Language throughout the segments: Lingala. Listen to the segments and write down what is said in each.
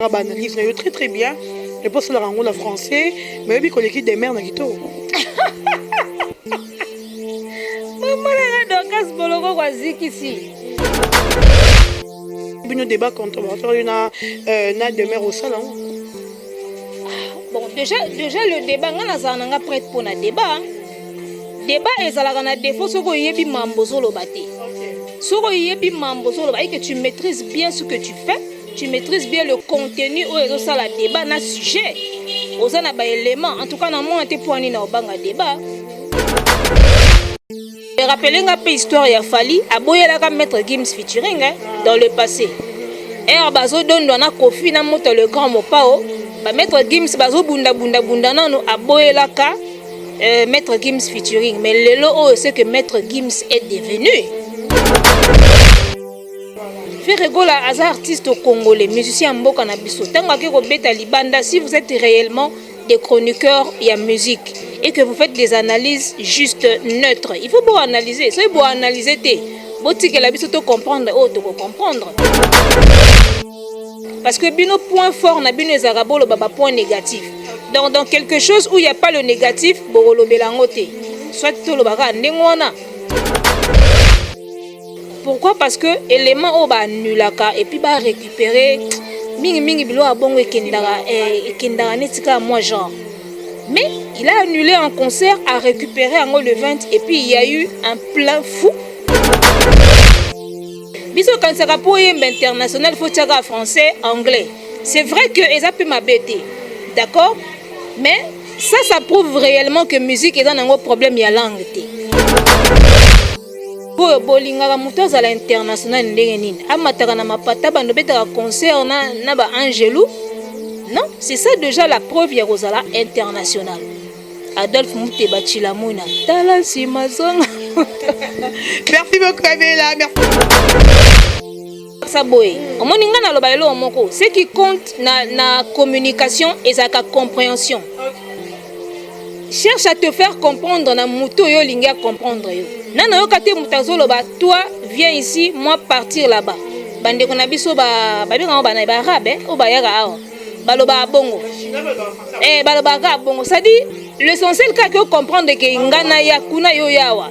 osalaka ba analyse na yo très très bien epe osalaka yango na français mais oyebi koleki demeure na kitoko omonaka dokas boloko kwa zikisi bino débat contemporatoire yo na euh, na demeure osala yango ah, bon déjà déjà le débat nga nazala na nga prête mpo na débat débat ezalaka na défaut soki oyebi mambo ozoloba te soki oyebi mambo ozoloba eke tu maîtrise bien ce que tu fais Tu maîtrises bien le contenu oyo ezosala débat na sujet oza na baélément en tout cas na mwana te mpo ani na obanga débat erapele nga mpe histoire ya fali aboyelaka maître gims featuring eh, dans le passé ere bazodondwa na kofi na moto le grand mopao bamaître gims bazobundabundabunda nano aboyelaka euh, maître gims featuring mais lelo oyo ce que maître gims est devenu Ferre Gola aza artiste congolais, musicien ya mboka na biso. Tango ake kobeta libanda, si vous êtes réellement des chroniqueurs ya musique et que vous faites des analyses juste neutres, il faut bo analyser. Soki bo analyser te, botikela biso to comprendre oyo toko comprendre. Parce que bino point fort na bino ezalaka boloba ba point négatif. Donc dans quelque chose où il n'y a pas le négatif, bokolobela yango te. Soit toloba kaka ndenge wana. Pourquoi parce que element oyo ba annulaka et puis ba récupérer mingi mingi biloko ya bongo ekendaka eh, ekendaka neti kaka moi genre mais il a annulé un concert a récupéré yango le 20 et puis il y a eu un plein fou biso okanisaka mpo oyemba international fo tiaka français anglais c'est vrai que eza mpe mabe te d'accord mais ça ça prouve réellement que musique eza nango problème ya langue te Boyo bolingaka moto azala international ndenge nini amataka na mapata bando betaka concert na, na ba angelu non c'est ça déjà la preuve ya kozala international adolphe muteba chilamuna tala nsima zonga merci beaucoup abela merci sa boye omoni ngai naloba eloko moko ce qui compte na, na communication ezalaka compréhension cherche à te faire comprendre na moto oyo olingi acomprendre yo na nayoka te moto azoloba toi viens ici moi partir là-bas bandeko na biso babengango bana baarabe eh, oyo bayaka awa balobaka bongo eh, balobaka kaka bongo cest dire l'essentiel kaka ocomprendre ke ngai naya kuna yo yawa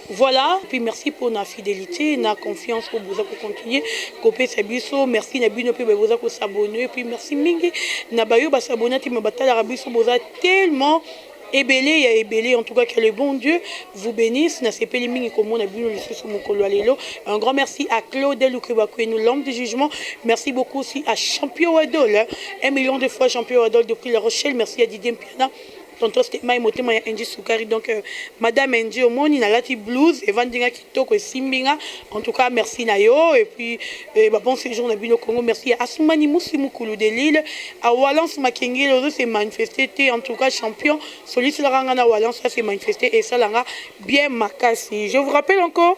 Voilà puis merci pona fidelite na confiance oyo boza ko continuer kopesa biso merci na bino mpe baye boza ko s'abonner puis merci mingi na bayo ba s'abonner te mais batalaka biso boza tellement ebele ya ebele en tout cas que le bon Dieu vous bénisse nasepeli mingi komona bino lisusu mokolo ya lelo un grand merci à Claude Lukebakwenu l'homme du jugement merci beaucoup aussi à Champion Wadol un million de fois Champion Wadol depuis La Rochelle merci à Didier Mpiana Tonton Stemay motema ya Angie Sukari donc euh, madame Angie omoni nalati blouse evandi nga kitoko esimbi nga en tout cas merci na yo et puis euh, ba bon séjour na bino Congo merci ya Asumani Musi Mukulu de Lille à Walence Makengele ozo se manifester te en tout cas champion soliselaka nga na Walence à se manifester et salanga bien makasi je vous rappelle encore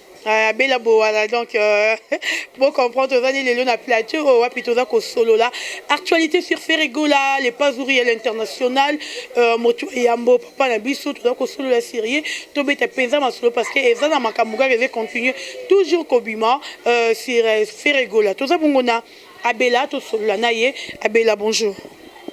Ah, bela bowana donc euh, bo comprendre tozali lelo na plateau oyo oh, wapi toza kosolola actualité sur ferregola le pazuri ya l'international euh, moto yambo papa na biso toza kosolola serie tobeta mpenza masolo parce que eza na makambo kaka eza continue toujours kobima euh, sur ferregola toza bongo na Abela to solola n'a ye abela bonjour.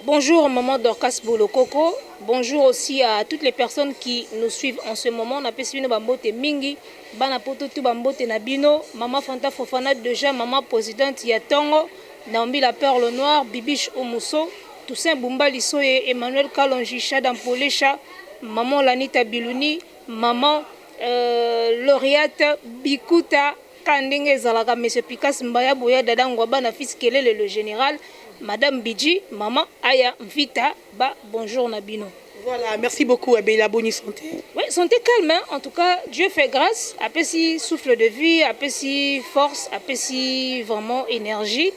Bonjour maman Dorcas Bolokoko, bonjour aussi à toutes les personnes qui nous suivent en ce moment, na pesi bino ba mbote mingi, bana poto tout ba mbote na bino, maman Fanta Fofana déjà maman presidente ya tongo, Naomi la perle noire, Bibiche Omuso, Toussaint Bumba Lisoye, Emmanuel Kalonji, Shada Mpolesha, maman Lanita Biluni, maman euh, Laureate Bikuta, Kaka ndenge ezalaka mes epicace mbaya boya dada ngwaba na fils kelele le general madame bidji maman aya mvita ba bonjour na bino. Voilà merci beaucoup eh bella boni sante. Oui sante calme hein en tout cas Dieu fait grace apesi souffle de vie apesi force apesi vraiment energie.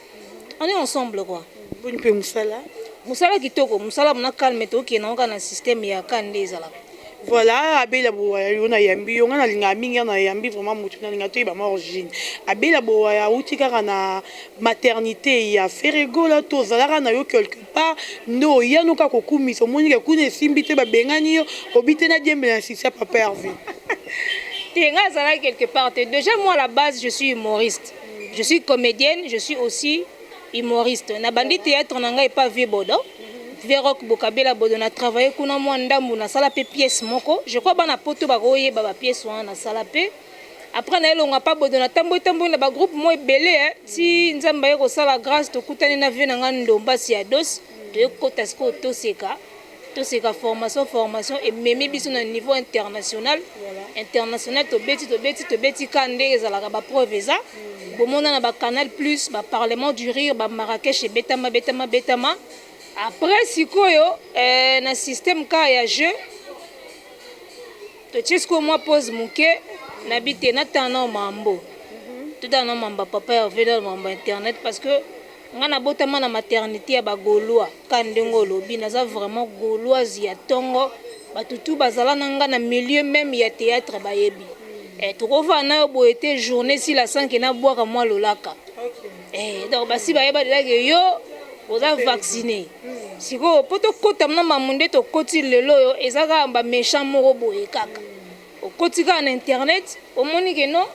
on est ensemble quoi boni pe musala musala kitoko musala mona calme to kena oka na système ya kan nde ezalaka voilà abela bowaya yo nayambi yo ngai nalingaka mingi ya nayambi vraiment motu nalinga toyebama origine abela bowaya auti kaka na maternité ya feregola to ozalaka na yo quelque part nde oya noka kokumisa omoni ke kuna esimbi te babengani yo obi te nadiembela na sisi ya papa herve te ngai azalaki quelque part te déjà moi la base je suis humoriste Je suis comedienne, je suis aussi humoriste. Na bandi théâtre na ngai epa Vieux Bodo. Vieux Rock Bokabela Bodo na travailler kuna mwa ndambu na sala pe pièce moko. Je crois bana poto bakoyeba ba pièce wana na sala pe. Après na elonga pa Bodo na tambwe tambwe na ba groupe mo ebele hein. Ti Nzambe aye kosala grâce tokutani na vieux na ngai Ndombasi ya Dos. Toye kota sikoyo Toseka. Toseka formation formation ememi biso na niveau international international tobeti tobeti tobeti ka nde ezalaka ba preuve eza mm. bomona na ba canal plus ba parlement du rire ba Marrakech ebetama betama betama après sikoyo eh, na système ka ya jeu totie sikoyo mwa pose moke na bite natana mambo mhm. totana na mamba papa ya veda mamba internet parce que Nga na botama na maternite ya ba golois ka ndenge olobi naza vraiment goloise ya tongo batu tout bazala na nga na milieu meme ya theatre bayebi eh toko vanda nayo boye te journee esila sans que na buaka mua lolaka eh donc basi bayeba dejà que yo oza vaccine sikoyo po tokota na mamu nde tokoti lelo oyo eza kaka ba méchant moko boye kaka okoti kaka na internet omoni que non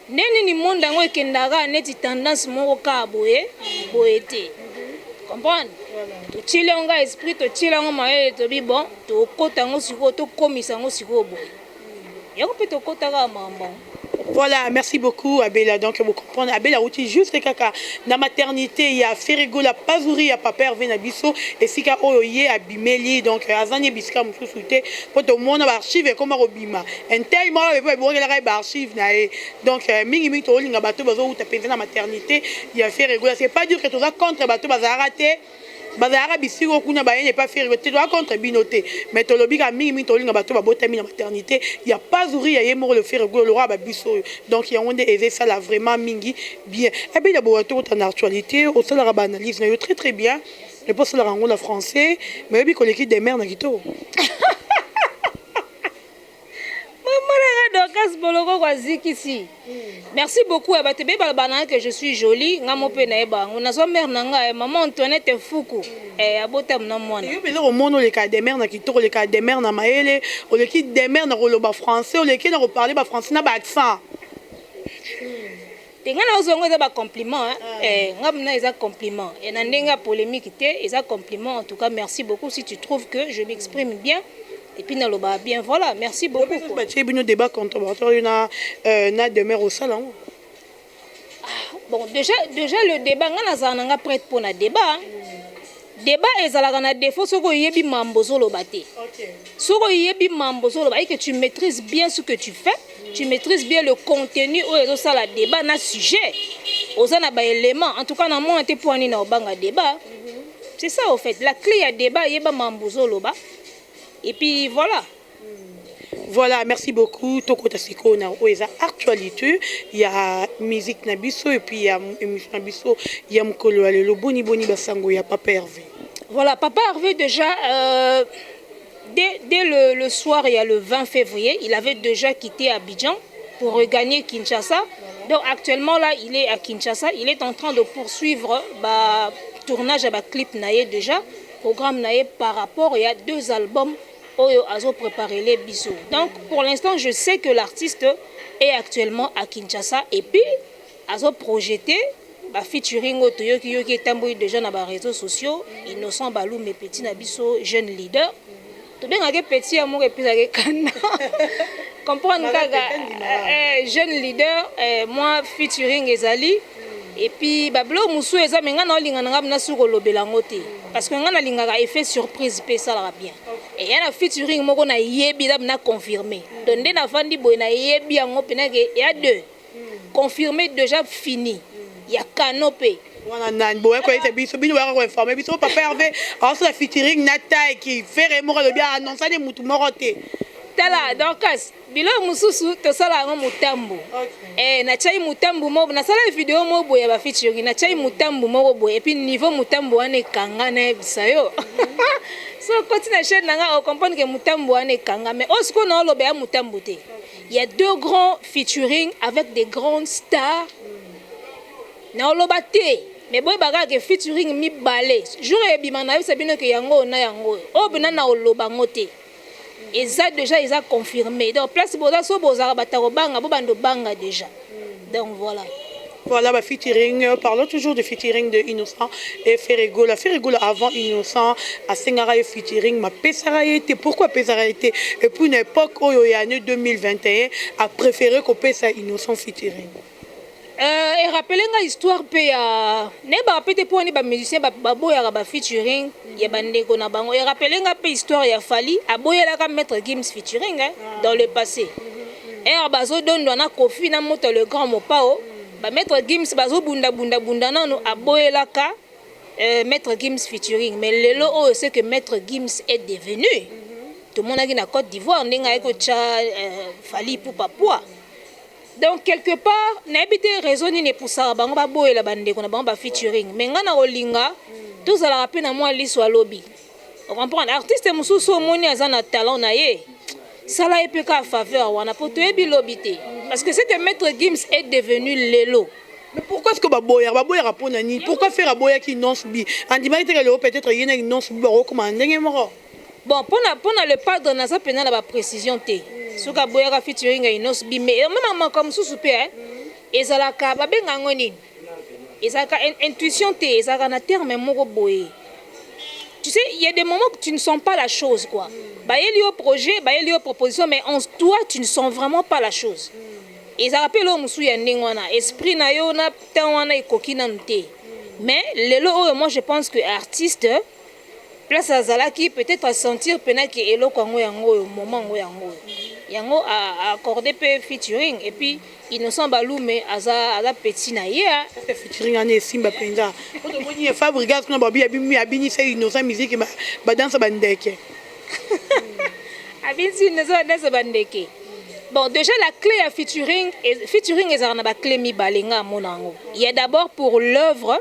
Ndenge nini monde yango ekenda kaka neti tendance moko kaka boye boye te comprendre totieli yango kaka esprit totieli yango mayele tobi bon tokota yango sikoyo tokomisa yango sikoyo boye yango mpe tokota kaka makambo yango Voilà, merci beaucoup Abela. Donc vous comprenez, Abela outil juste kaka na maternité ya Ferrigo la pazouri ya papa Hervé na biso esika oyo ye abimeli donc azani bisika mususu te po to mona ba archives ekoma kobima Intel moko pe babongelaka ye ba archives na ye donc mingi mingi tokolinga bato bazo wuta penza na maternite ya Ferre Gola c'est pas dire que toza contre bato bazalaka te bazalaka bisiko kuna bayende epa Ferre Gola te toza contre bino te mais tolobi kaka mingi mingi tokolinga bato babotami na maternite ya Pazuria ye moko le Ferre Gola le roi ba biso oyo donc yango nde eza esala vraiment mingi bien Abela Bowa tokota na actualite osalaka ba analyse na yo très très bien epa osalaka yango na français mais oyebi koleki Demeure na kitoko. Dorcas Boloko kwa Zikisi. Merci beaucoup à bato beba bana que je suis jolie, nga mope na eba ngo na zo mère na nga eh, maman Antoinette Fuku. Eh abota mna mwana. Yo pele ko mono le ka demeure na kitoko, le ka demeure na maele, o le ki demeure na ko loba français, o le ki na ko parler ba français na ba accent. te nga na ozwa yango eza ba compliment eh, eh nga mna eza compliment et na ndenge ya polemique te eza compliment en tout cas merci beaucoup si tu trouves que je m'exprime bien et puis na loba bien voilà merci beaucoup quoi ba tie bino débat contemporain yo na euh, na demeure au salon ah, bon déjà déjà le débat nga na za na nga prête pour na débat hein. Debat ezalaka na defaut soki oyebi mambo ozoloba te. Soki oyebi mambo ozoloba et que tu maîtrises bien ce que tu fais, tu maîtrises bien le contenu oyo ezosala debat na sujet. Oza na ba éléments. En tout cas na mona te mpo ani na obanga debat. C'est ça au fait. La clé ya debat yeba mambo ozoloba. Et puis voilà. Voilà, merci beaucoup. Tokota sikoyo na oyo eza actualité ya musique na biso et puis ya émission na biso ya mokolo ya lelo boni boni basango ya Papa Hervé. Voilà, Papa Hervé déjà euh, dès, dès le, le soir il y a le 20 février, il avait déjà quitté Abidjan pour regagner Kinshasa. Donc actuellement là, il est à Kinshasa, il est en train de poursuivre bah, tournage à bah, clip naïe déjà, programme naïe par rapport il y a deux albums oyo azo preparele biso donc pour l'instant je sais que l'artiste est actuellement à Kinshasa et puis azo projeter ba featuring oyo toyoki yoki etamboli dejà na ba reseaux sociaux Innocent Balume petit na biso jeune leader tobengake petit ya moko epesake kanda comprendre kaka eh, jeune leader eh, moi featuring ezali Et puis ba blog musu eza mais nga na olinga nga na suko lobela ngo te parce que nga na linga ka effet surprise pe ça la bien. Et ya na featuring moko na yebi la na confirmer. Donc nde na fandi boy na yebi yango pena ke ya deux. Confirmer déjà fini. Ya canopé. wana nani boye koyesa biso bino boyaka koinforme biso papa herve aosala featuring na taiki fere moko alobi aannonsa nde motu moko te tala dorcas Biloko mosusu tosala yango motambo okay. Eh, natyai motambo moko nasalaki video moko boye ya bafeaturing natyai motambo moko boye epuis niveau motambo wana ekanga nayebisa yo so okoti na chaine na ngai ocomprendre ke motambo wana ekanga mais oyo sikoyo naoloba ya motambo te ya deux grands featuring avec des grandes stars naoloba te mais boyeba kaka ke featuring mibale jour ebima nayebisa bino ke yango oyo na yango oyo oyo mpena naoloba yango te okay. Eza dejà eza confirme donc place boza soki bozalaka batu ya kobanga bo banda obanga dejà donc voila. Voilà ba featuring parlons toujours de featuring de innocent et ferre gola ferre gola avant innocent asengaka ye featuring ma pesaka ye te pourquoi apesaka ye te et puis na epoque oyo ya année 2021 a prefere kopesa innocent featuring Euh, e rappeler nga histoire pe ya nayebaka pe te po wana ba musiciens baboyaka ba featuring ya ba ndeko na bango. E rappeler nga pe histoire ya Fally aboyelaka Maître Gims featuring hein, dans le passé. Heure bazo dondwa na Koffi na Moto le Grand Mopao, ba Maître Gims bazo bunda bunda bunda nanu aboyelaka euh, Maître Gims featuring. Mais lelo oyo ce que Maître Gims est devenu, tomonaki na Cote d'Ivoire ndenge ayaki kotya euh, Fally Ipupa poids. Donc quelque part nayebi te raison nini epusaka bango baboyela bandeko na bango ba featuring mais ngai nakolinga tozalaka mpe na mwa liso ya lobi ocomprendre artiste mosusu omoni aza na talent na ye sala ye mpe kaka faveur wana mpo toyebi lobi te parce que ce que maître gims est devenu lelo Mais pourquoi est-ce que baboya baboya rapona ni pourquoi faire aboya ki non subi andimaki te que le peut-être yena ki non subi bakokoma ndenge moko Bon, pona pona le padre naza pena na ba precision te. Soki aboyaka featuring ya Innos B mais mama makambo mosusu pe hein. Ezalaka babenga yango nini? Ezalaka intuition te, ezalaka na terme moko boye. Tu sais, il y a des moments que tu ne sens pas la chose quoi. Bayeli yo projet, bayeli yo proposition mais en toi tu ne sens vraiment pas la chose. Ezalaka pe lo mosusu ya ndenge wana, esprit na yo na temps wana ekoki nanu te. Mais lelo oyo moi je pense que artiste place azalaki peut-être a sentir pena ke eloko yango yango oyo moment yango yango oyo yango a accorde pe featuring et puis innocent balume aza aza petit na ye hein. Ata featuring wana esimba penza oto moni ya fabrigas kuna babi abimi abini se innocent musique ba ba danse ba ndeke abini se innocent ba danse ba ndeke Bon, déjà la clé ya featuring, featuring ezalaka na ba clé mibale nga amona yango. Il y a d'abord pour l'œuvre,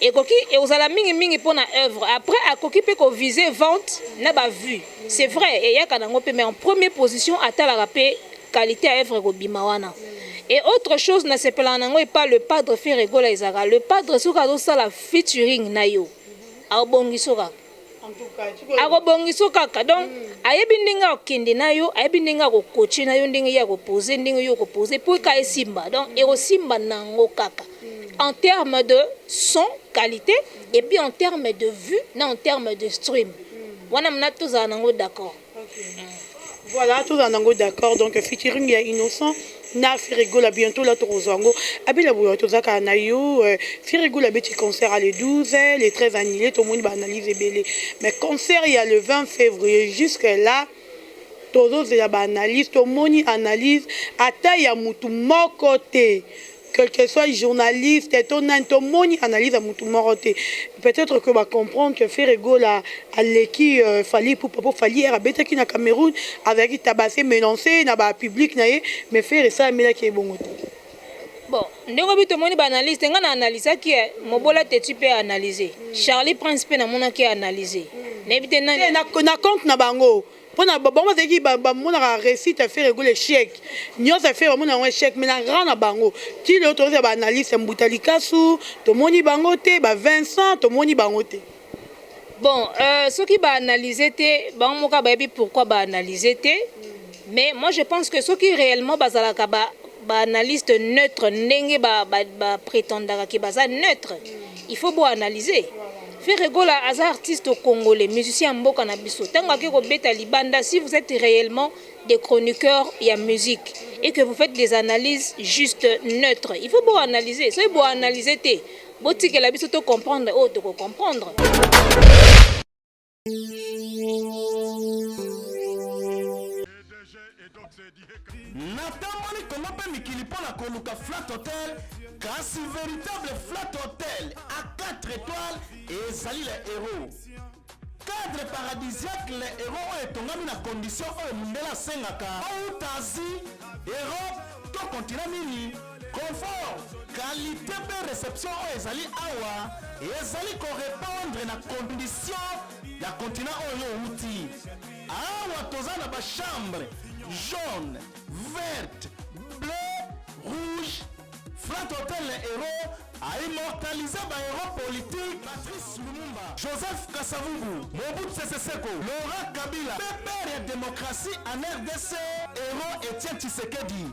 Ekoki ekozala mingi mingi mpo na oeuvre. Après akoki mpe ko viser vente na ba vues. C'est vrai eyaka na yango mpe mais en premier position atalaka mpe qualite ya oeuvre ekobima wana. Et autre chose nasepelaka na yango epa le padre Ferre Gola ezalaka le padre soki azosala featuring na yo abongisoka. akobongisa yo kaka donc mm. ayebi ndenge akokende na yo ayebi ndenge akokoche na yo ndenge ye akopose ndenge yo okopose mpo eka esimba donc mm. ekosimba na yango kaka mm. en terme de son qualité et puis en terme de vue na en terme de stream wana mna tozala na yango d'accord Voilà, tout en ango d'accord. Donc, featuring ya innocent na Firigola bientôt là tokozwa yango. Abela boya tozaka na yo euh, Firigola beti concert à le 12, le 13 annulé tout le monde va analyser belé. Mais concert il y a le 20 février jusque là tozozela ba analyse tomoni analyse ata ya mutu moko te que que soit journaliste to nani to moni analyse ya mutu moko te peut-être que ba comprendre que Ferre Gola aleki euh, Fally Ipupa po Fally era betaki na Cameroun azalaki tabase menance na ba public na ye mais Ferre esala melaki ebongo te bon ndenge obi tomoni ba analyse te nga na analyse ki eh, mobola te tu peux analyser Charlie Prince pe na mona ki analyser na ebite nani na compte na bango pona bango bazalaki bamonaka reussite ya ferre gola echec nyonso ya ferre bamona yango echec mais na grand na bango ti lelo tozala ba analyste mbuta likasu tomoni bango te ba vincent tomoni bango te bon euh, soki ba analyse te bango moka bayebi pourquoi ba analyse te mais moi je pense que soki réellement bazalaka ba Ba analyste neutre ndenge ba ba pretendaka ke baza neutre il faut bo analyse Ferre Gola aza artiste congolais musicien ya mboka na biso tango ake kobeta libanda si vous etes reellement des chroniqueurs ya musique et que vous faites des analyses juste neutre il faut bo analyse soki bo analyse te botikela biso to comprendre oyo toko comprendre. natamboli kongo mpe mikili mpo na koluka flat hotel kasi veritable flat hotel a 4 étoiles ezali le héros cadre paradisiaque le héros oyo etongami na condition oyo mondele asengaka outa asie europe to continent nini Confort, qualite mpe reception oyo ezali awa ezali ko repondre na condition ya continent oyo owuti. Awa toza na ba chambre jaune, verte, bleu, rouge. Flat Hotel na Hero a immortalise ba hero politique Patrice Lumumba, Joseph Kasavubu, Mobutu Sese Seko, Laurent Kabila, pepere ya demokrasi en RDC, Hero Etienne Tshisekedi.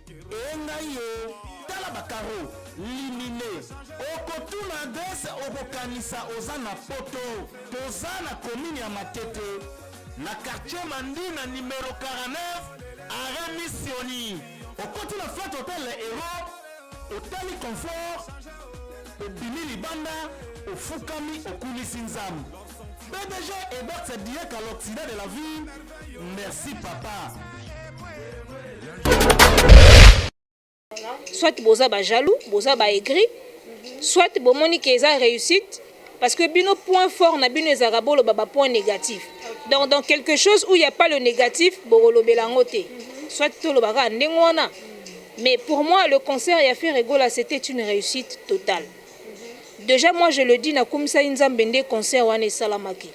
Ee ngai yo tala ba carreau limine okotuna adresse okokanisa oza na poto toza na commune ya matete na quartier mandina numero 49 arret missioni okoti na flat hotel le hero otali confort obimi libanda ofukami okulisi nzambe BDG Ebert Diek à l'Occident de la vie. Merci papa. Soit boza ba jaloux, boza ba aigri, soit bomoni que eza réussite parce que bino point fort na bino ezaka bolo ba point négatif. Donc dans quelque chose où il n'y a pas le négatif, bolo belango te. Soit tolo baka ndengwana. Mais pour moi le concert ya Ferregola c'était une réussite totale. dejà moi je le dis na kumisaki nzambe nde concert wana esalamaki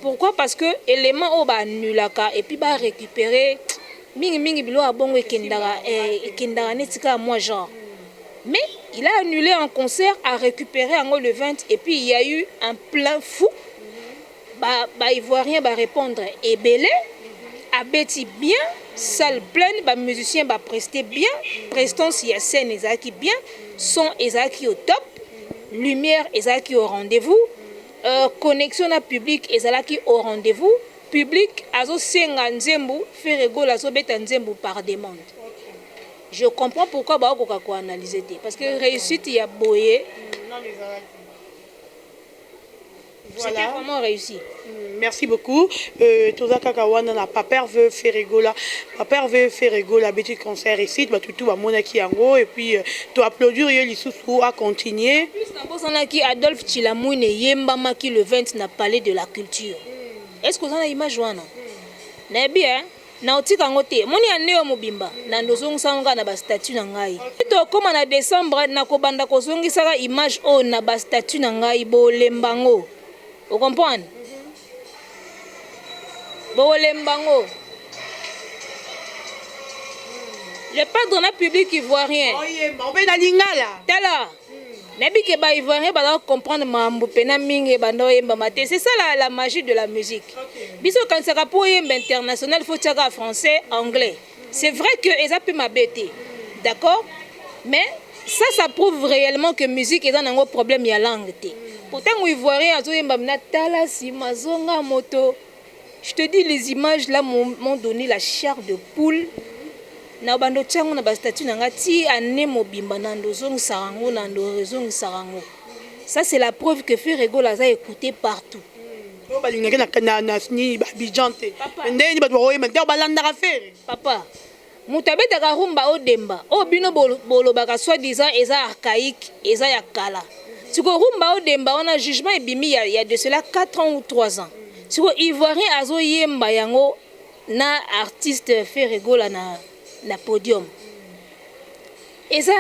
pourquoi parce que element oyo ba annulaka et puis ba recuperer mingi mingi biloko ya bongo ekendaka eh, ekendaka neti kaka moi genre mais il a annulé un concert a récupérer yango le 20 et puis il y a eu un plein fou Ba ba ivoiriens ba repondre ebele abeti bien salle pleine ba musiciens ba preste bien prestance ya scène ezalaki bien son ezalaki au top lumière ezalaki au rendez-vous euh, connexion na public ezalaki au rendez-vous public azosenga nzembu Ferre Gola azobeta nzembu par demande je comprends pourquoi baokoka ko analyser te parce que réussite ya boye C'était vraiment reussi. Merci beaucoup. Euh, toza kaka wana na Paper veut faire gola. Paper veut faire gola petit concert ici, ba tutu ba mona ki yango et puis euh, to applaudir ye lisusu à continuer. Plus na bosana ki Adolphe Chilamwine yemba maki le 20 na Palais de la Culture. Est-ce que vous en avez image wana? Na bien. Hein? Nao tika yango te omoni annee oyo mobimba nando ozongisa yango kaka na ba statut na ngai ti tokoma na decembre nako banda ko zongisaka image oyo na ba statut na ngai bolemba yango o comprendre bolemba yango le padre na public ivoirien oyemba obe na lingala tala. nayebi ke ba ivoirien baza comprendre mambo mpena mingi ebanda oyembama te c'est ça la, la magie de la musique biso okanisaka mpo oyemba international faut tiaka français anglais c'est vrai que eza mpe mabe te d'accord mais ça ça prouve réellement que musique eza nango problème ya langue te mpo ntango ivoirien azoyemba mina tala nsima zonga moto Je te dis les images là m'ont donne la chair de poule na bando otya yango na bastatut na ngai ti année mobimba nando ozongisaka yango nando ozongisaka yango ça c'est la preuve que ferre egola aza écouté partout oyo balingaki na nini babidjan te ndenge nini bato bakoyema ntango balandaka ferre papa Mutu abetaka rumba o demba oyo bino bolobaka soit disant eza archaique eza ya kala sikoyo rumba o demba wana jugement ebimi ya ya de cela 4 ans ou 3 ans sikoyo ivoirien azo yemba yango na artiste Ferre Gola na na podium eza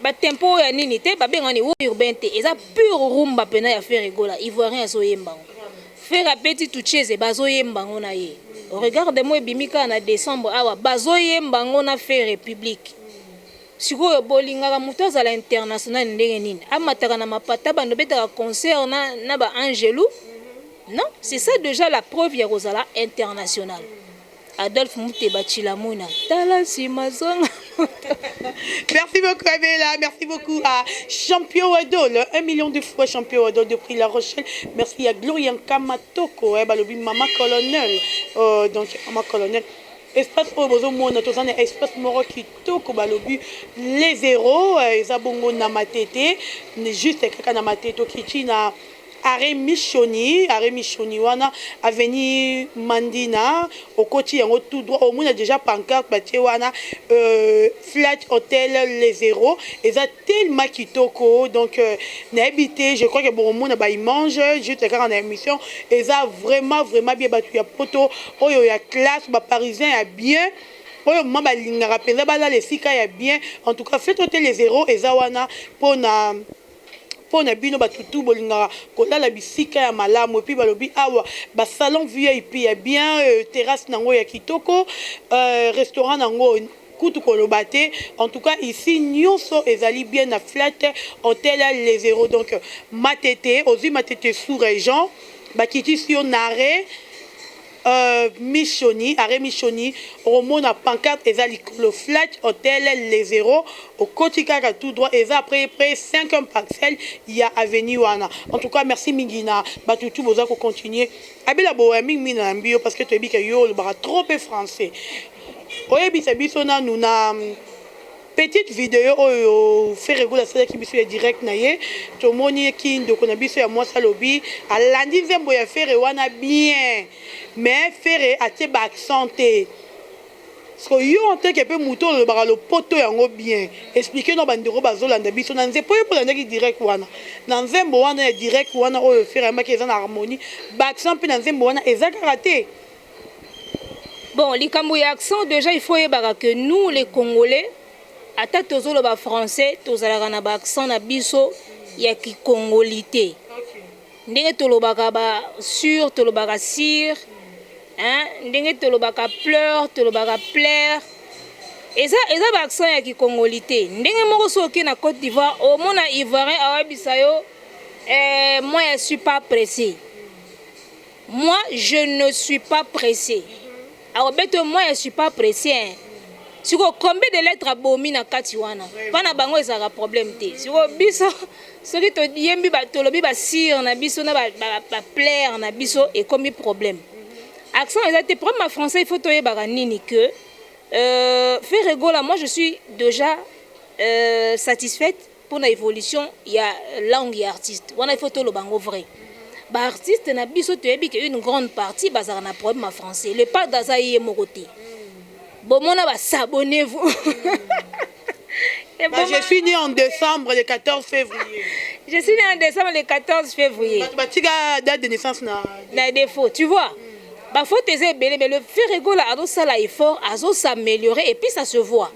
Ba tempo oyo ya nini te ba benga ni wo urbain te eza pure rumba pena ya Ferre Gola ivoirien azo yemba ngo Ferre abeti Tucheze bazo yemba ngo na ye regarde moi ebimi kaka na decembre awa bazo yemba ngo na Ferre public sikoyo bolingaka moto azala international ndenge nini amataka na mapata bando betaka concert na, na ba Angelu non c'est ça déjà la preuve ya kozala international Adolphe Muteba Chilamuna tala nsima zonga Merci beaucoup Abela, merci beaucoup à Champion Adol, un million de fois Champion Adol depuis La Rochelle. Merci à Gloria Nkamatoko, eh, balobi Mama Colonel, euh, donc Mama Colonel. espace oyo bozomona toza na espace moko kitoko balobi les zero eza bongo na matete juste kaka na matete okici na Arret missioni arret missioni wana avenue mandina okoti yango tout droit omona dejà pancarte batie wana flat hotel les heros eza tellement kitoko donc nayebi te je crois que bokomona ba image juste kaka na emission eza vraiment vraiment bien batu ya poto oyo ya classe ba parisien ya bien oyo mma balingaka mpenza balala esika ya bien en tout cas flat hotel les heros eza wana mpona Po na bino ba tutu bolingaka kolala bisika ya malamu epuis balobi awa ba salon vip ya bien euh terrasse nango ya kitoko euh restaurant nango kutu koloba te en tout cas ici nioso ezali bien na flat hotel les heros donc matete ozui matete sous region bakitisi yo nare Euh mi shoni arret mi shoni okomona pancarte eza likolo fletch hotel le zero okoti kaka tout droit eza après près 5 ème parcelle ya avenue wana en tout cas merci mingi na batu tout boza ko continuer abela boya mingi mingi na yambi yo parce que toyebi ke yo olobaka trop pe français oyebisa biso nanu na Petite video oyo Ferre Gola asalaki biso ya direct na ye tomoni ye ki ndeko na biso ya mwasi alobi alandi nzembo ya Ferre wana bien mais Ferre atie ba accent te Sko yo en tant que pe mutu olobaka lopoto yango bien explique na bandeko bazolanda biso na nze po yo pe olandaki direct wana na nzembo wana ya direct wana oyo Ferre ayembaki eza na harmonie ba accent pe na nzembo wana eza kaka te Bon, likambo ya accent déjà il faut yebaka que nous les Congolais ata tozoloba français tozalaka na ba accent na biso ya kikongolite ndenge tolobaka ba sur tolobaka sir hein? ndenge tolobaka pleur tolobaka plaire eza, eza ba accent ya kikongolite ndenge moko soki oke na Côte d'Ivoire omona ivoirien awebisa yo eh, moi je suis pas pressé Moi je ne suis pas presse akobeta oyo moi je suis pas presse hein. sikoyo combien de lettre abomi na kati wana mpa na bango ezalaka problème te sikoyo biso soki toyembi tolobi basire na biso na baplaire ba, ba na biso ekomi problème accent eza te problème ya français il faut toyebaka nini que euh, ferre gola moi je suis déjà euh, satisfaite pona evolution ya langue ya artiste wana il faut toloba yango vrai ba artiste na biso toyebi ke une grande partie bazalaka na problème ya français le padre aza ye moko te bomona ba s'abonnez vous Bah, je suis né en décembre le 14 février je suis né en décembre le 14 février bato batika date de naissance na na défaut tu vois bafaute eza ebele mais le ferregola azosala effort azosaméliorer et puis ça se voit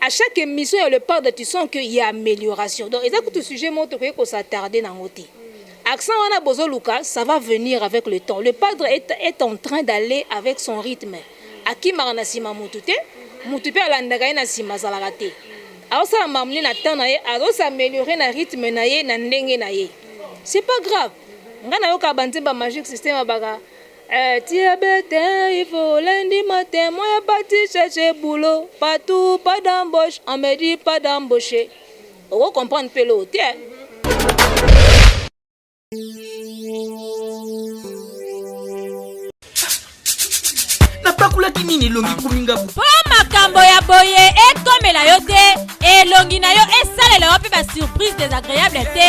à chaque émission ya le pardre tu sens que ya amélioration donc eza kutu sujet moko tokoki kosattarde nango te accent wana bozoluka ça va venir avec le temps le pardre est, est en train d'aller avec son rythme akimaka na nsima mutu te mutu mpe alandaka ye na nsima azalaka te aosala mamni na temps na ye azosameliore na rythme na ye na ndenge na ye c'est pas grave ngai nayokaka banzemba magique système abaka Eh tu es bete il faut lundi matin moi est parti chercher boulot partout pas d'embauche on me dit pas d'embaucher oko comprendre pe lo te napakolaki nini elongi ekomi ngabu mpo makambo ya boye ekomela yo te elongi na yo esalela yo mpe basurprise desagreable te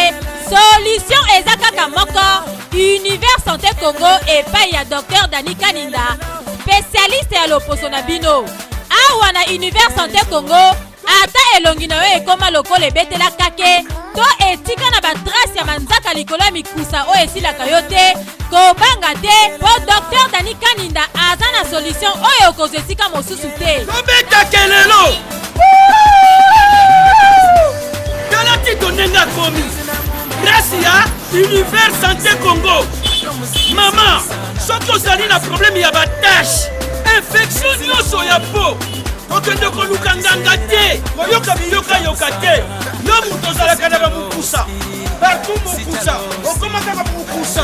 solution eza kaka moko Univers Santé Congo epai ya Docteur Dani Kaninda, spécialiste ya loposo na bino. Awa na Univers Santé Congo, ata elongi na yo ekoma lokola ebetela kake to etika na batrace ya manzaka likolo ya mikusa oyo esilaka yo te, kobanga te mpo Docteur Dani Kaninda aza na solution oyo okozwa esika mosusu te. Tobeta kelelo! tala tito ndenge akomi grasi ya univers santé congo mama soki ozali na probleme ya batashe infektio nyonso ya po kokende koluka nganga te koyoka biyokayoka te yo moto ozalaka na bamokusa partout mokusa okomaka bamokusa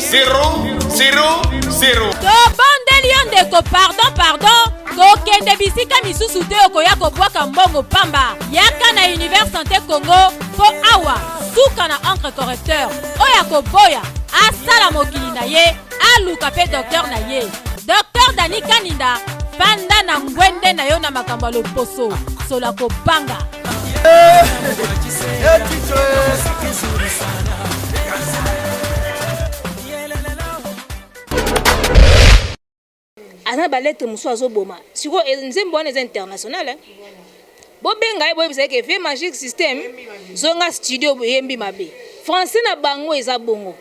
zero zero zero tobondeli yo ndeko pardon pardon kokende bisika misusu te okoya kobwaka mbongo pamba yaka na univers sante congo mpo awa suka na encre correcteur oyo akoboya asala mokili na ye aluka mpe doktere na ye Docteur Dani Kaninda, fanda na ngwende na yo na makambo ya loposo, sola kobanga. Eh, eh, aza na balete mosusu azoboma sikoyo eh, nzembo wana eza international eh? Bobenga ye boyebisa ye ke vieux magic système zonga studio boyembi mabe. Français na bango eza bongo.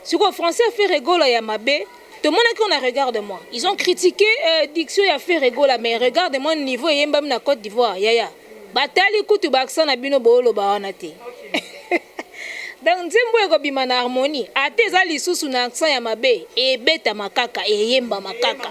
Siko français ya Ferre Gola ya mabe tomonaki on a regarde moi. Ils ont critiqué euh, diction ya Ferre Gola mais regarde moi niveau eyembami na Côte d'Ivoire yaya. Batali kutu ba accent na bino booloba wana te. Donc nzembo ekobima na harmonie ata eza lisusu na accent ya mabe ebetama kaka eyembama kaka.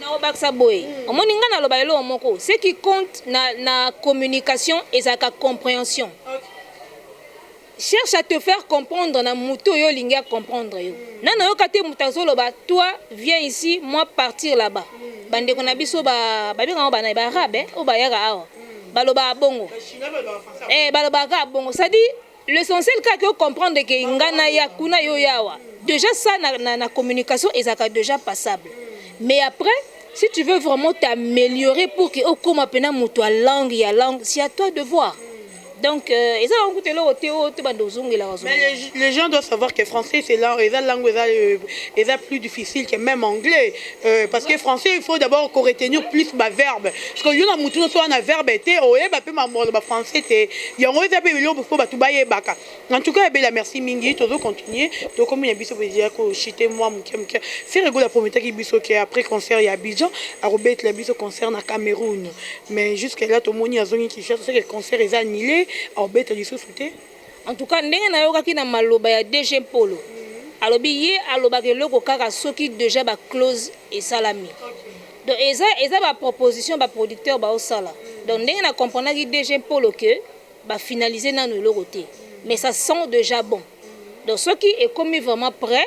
Nakobakisa boye, omoni ngai naloba eloko moko, ce qui compte na, na communication ezalaka comprehension. Cherche à te faire comprendre na moto oyo olingi a comprendre yo. Nani oyoka te moto azoloba toi viens ici moi partir là-bas. Bandeko na biso ba babengaka bana ba arabe eh, oyo bayaka awa balobaka bongo, eh balobaka bongo, c'est-à-dire L'essentiel kaka o comprendre que nga na ya kuna yo yawa. Déjà ça na, na, na communication ezaka déjà passable. Mais après si tu veux vraiment t'améliorer pour que okoma pena moto ya langue ya langue, c'est à toi de voir. Donc euh, eza yango kutu eloko te oyo to banda ozongelaka Mais zongela. les, les gens doivent savoir que français, c'est là, et la langue, et la- et la plus difficile que même anglais. Euh, parce que français il faut d'abord ko retenir plus ba verbe parce que yo na mutu no soa na verbe te oyeba pe ma molo ba français te yango eza pe biloko faut batu bayebaka en tout cas bela merci mingi tozo continuer tokomi na biso bezia ko chiter moi muke muke Ferre Gola prometaki biso que après concert ya Abidjan akobetela biso concert na Cameroun mais jusque là tomoni azongi Kinshasa c'est que concert eza annulé akobeta lisusu te En tout cas ndenge nayokaki na maloba ya DG Mpolo alobi ye alobaka eloko kaka soki deja ba clause esalami donc eza eza ba proposition ba producteur baosala donc ndenge na comprenaki DG Mpolo que ba finalise nanu eloko te mais ça sent deja bon donc soki ekomi vraiment près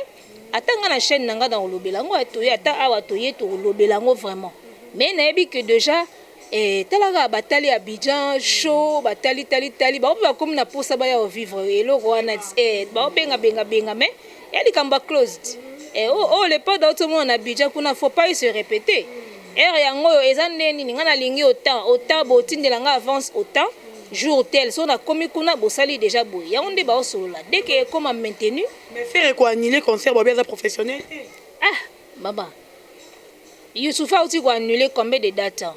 ata nga na chaîne na nga na kolobela yango atoye ata awa toye tokolobela yango vraiment mais nayebi que deja Eeh tala kaka ba tali Abidjan show ba tali tali tali bango pe ba komi na posa ba ya ko vivre eloko wana eeh bao benga benga benga mais eeh likambo ba closed eeh oyo oyo le pad auti omona na Abidjan kuna faut pas il se repeter heure yango oyo eza nde nini nga na lingi autant autant bo tindela nga avance autant jour tel soki na komi kuna bo sali dejà boye yango nde bao solola dès que ekoma maintenu. Mais ferre ko annuler concert bobby aza professionnel te. Ah maman. Youssoupha awuti ko annuler combien de dates?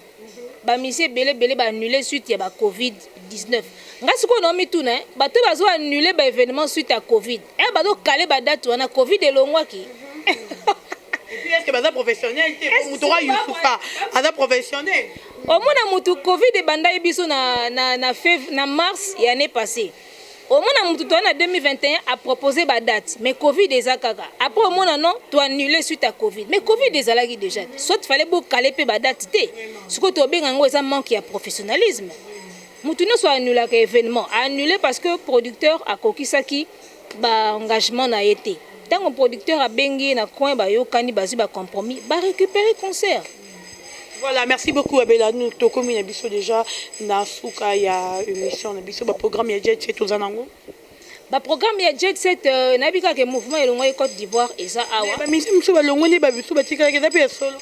Ba missions ebele ebele ba annuler suite ya ba covid 19. Nga sikoyo nao mituna hein, bato oyo bazo annuler ba evenements suite ya covid, heure bazo caler ba dates wana covid elongwaki? Et puis est ce que baza professionnels te? Po moto kaka Youssoupha aza professionnel? Omona mutu covid ebandaki biso na na na mars ya annee passee. Omona mutu toye na 2021 a proposer ba date mais covid eza kaka après omona non to annuler suite à covid mais covid ezalaki déjà soit fallait bo caler pe ba date te siko to benga ngo eza manque ya professionnalisme mutu nionso annula ka événement a annuler parce que producteur akokisaki ba engagement na ye te tango producteur abengi ye na coin ba yokani bazui ba compromis ba récupérer concert Voilà, merci beaucoup Abela. Nous tokomi na biso déjà na suka ya émission na biso ba programme ya Jet Set oza nango. Ba programme ya Jet Set euh, na bika ke mouvement elongwa Côte d'Ivoire eza awa. Ba mission biso ba longwa ne ba biso ba tikala ke zape ya solo.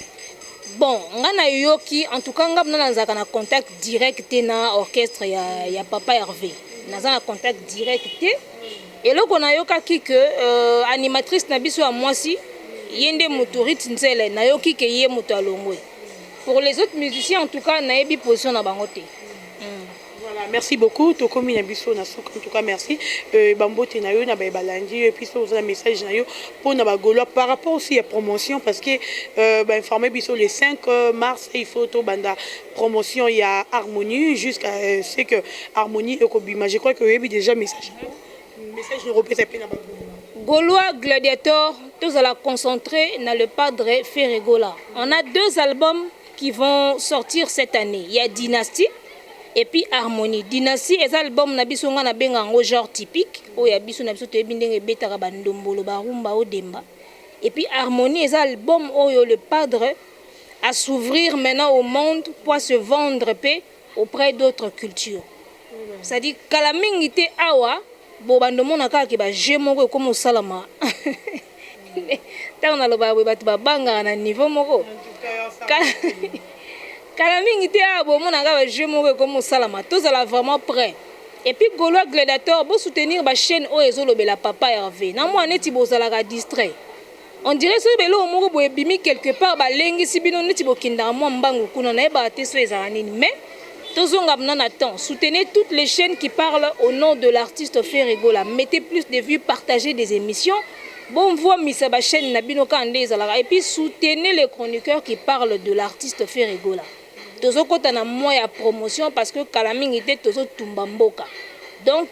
Bon, nga na yoki en tout cas nga na nzaka na contact direct na orchestre ya ya papa Hervé. Naza na contact direct te. Eloko na yokaki que animatrice na biso ya mwasi ye nde mutu Ruth Nzele na yoki que ye mutu alongwe. Pour les autres musiciens en tout cas na yebi position na bango te. Voilà merci beaucoup tokomi na biso na suka en tout cas merci ba mbote na yo na baye balandi yo epuis soki oza na message na yo pona ba golois par rapport aussi ya promotion parce que ba informe biso le 5 mars il faut tobanda promotion ya harmonie jusqu'à ce que harmonie ekobima je crois que oyebi déjà message message nakopesa mpe na bagola golois gladiator tozala concentré na le padre ferregola on a deux albums qui vont sortir cette année il y a dynastie et puis harmonie dynastie eza album na biso nga nabenga yango genre typique oyo ya biso na biso toyebi ndenge ebetaka bandombolo barumba odemba et puis harmonie eza album oyo le padre à s'ouvrir maintenant au monde mpo a se vendre mpe auprès d'autres cultures c'est à dire kala mingi te awa bobanda omona kaka ke ba jeux moko ekoma osalama ntango nalobaka boye bato babangaka na niveau moko kala mingi te awa bomonaka ba jeux moko ekoma osalama tozala vraiment près et puis golois gladiator bosoutenir bachaîne oyo ezolobela papa herve na mwana neti bozalaka distrait On dirait soki beloko moko boye ebimi quelque part balengisi bino neti bokendaka mwa mbangu kuna nayebaka te soki ezala nini mais tozonga mna na temps soutenez toutes les chaînes qui parlent au nom de l'artiste Ferre Gola mettez plus de vues partagez des émissions bomvuamisa ba chaînes na bino kaka nde ezalaka et puis soutenez les chroniqueurs qui parlent de l'artiste Ferre Gola tozo kota na mois ya promotion parce que kala mingi te tozo tumba mboka donc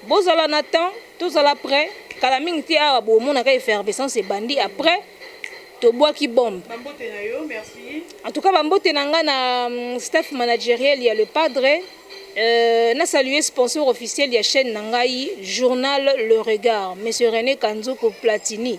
bo zala na temps to zala pret kala mingi te awa bo monaka effervescence ebandi après to bwaki bombe. Ba mbote na yo merci. En tout cas ba mbote na nga na staff manageriel ya le padre euh, na saluer sponsor officiel ya chaîne na ngai journal le regard monsieur Rene Kanzoko Platini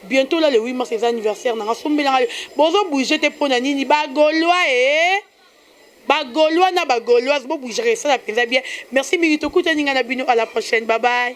Bientot là le 8 mars eza anniversaire nanga sombela nga bozo bouger te pona nini ba golois ee ba golois na ba goloise bo bougere esala penza bien merci mingi tokutani nga na bino à la prochaine bye bye